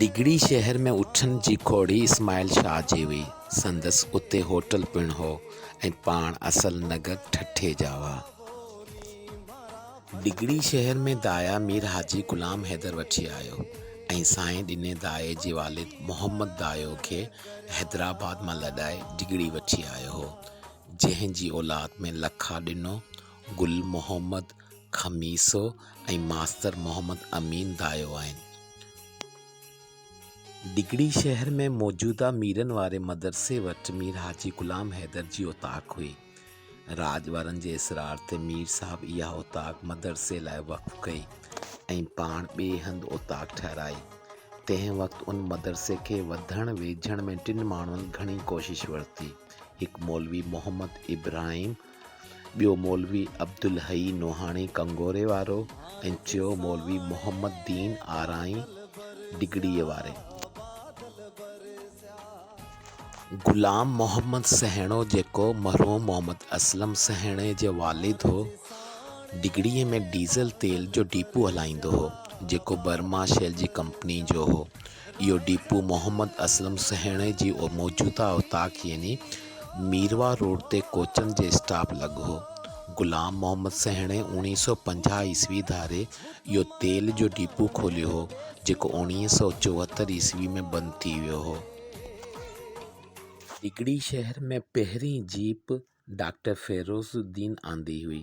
ڊگهڙي شهر ۾ اٺن جي کوڙي اسماعيل شاهه جي هئي. سندس اتي هوٽل پڻ هو ۽ پاڻ اصل نگڪ ٺٽي جا هئا. ڊگهڙي شهر ۾ دايا مير حاجي غلام حيدر وٺي آيو ۽ سائين ڏني دايي جي والد محمد دايو کي حيدرآباد مان لڏائي ڊگهڙي وٺي آيو هو، جنهن جي اولاد ۾ لکا ڏنو، گل محمد، خميسو ۽ ماستر محمد امين دايو آهن. ڊگهڙي شهر ۾ موجوده ميرن واري مدرسي وٽ مير حاجي غلام حيدر جي اوطاق هئي. راڄ وارن جي اصرار تي مير صاحب اها اوطاق مدرسي لاء وقف ڪئي ۽ پاڻ ٻئي هنڌ اوطاق ٺهرائي. تنهن وقت ان مدرسي کي وڌڻ ويجهڻ ۾ ٽن ماڻهن گهڻي ڪوشش ورتي. هڪ مولوي محمد ابراهيم، ٻيو مولوي عبدالحئي نوحاڻي ڪنگوري وارو ۽ ٽيون مولوي محمد دين آرائين ڊگهڙيء واري. غلام محمد سهڻو جيڪو مرحوم محمد اسلم سهڻي جو والد هو، ڊگهڙيء ۾ ڊيزل تيل جو ڊيپو هلائيندو هو، جيڪو برما شيل جي ڪمپنيء جو هو. اهو ڊيپو محمد اسلم سهڻي جي موجوده اوطاق يعني ميرواهه روڊ تي ڪوچن جي اسٽاپ لڳ هو. غلام محمد سهڻي اوڻيهه سؤ پنجاهه عيسوي ڌاري اهو تيل جو ڊيپو کوليو هو، جيڪو اوڻيهه سؤ چوهتر عيسوي ۾ بند ٿي ويو هو. سگڙي شهر ۾ پهرين جيپ ڊاڪٽر فيروز الدين آندي هئي.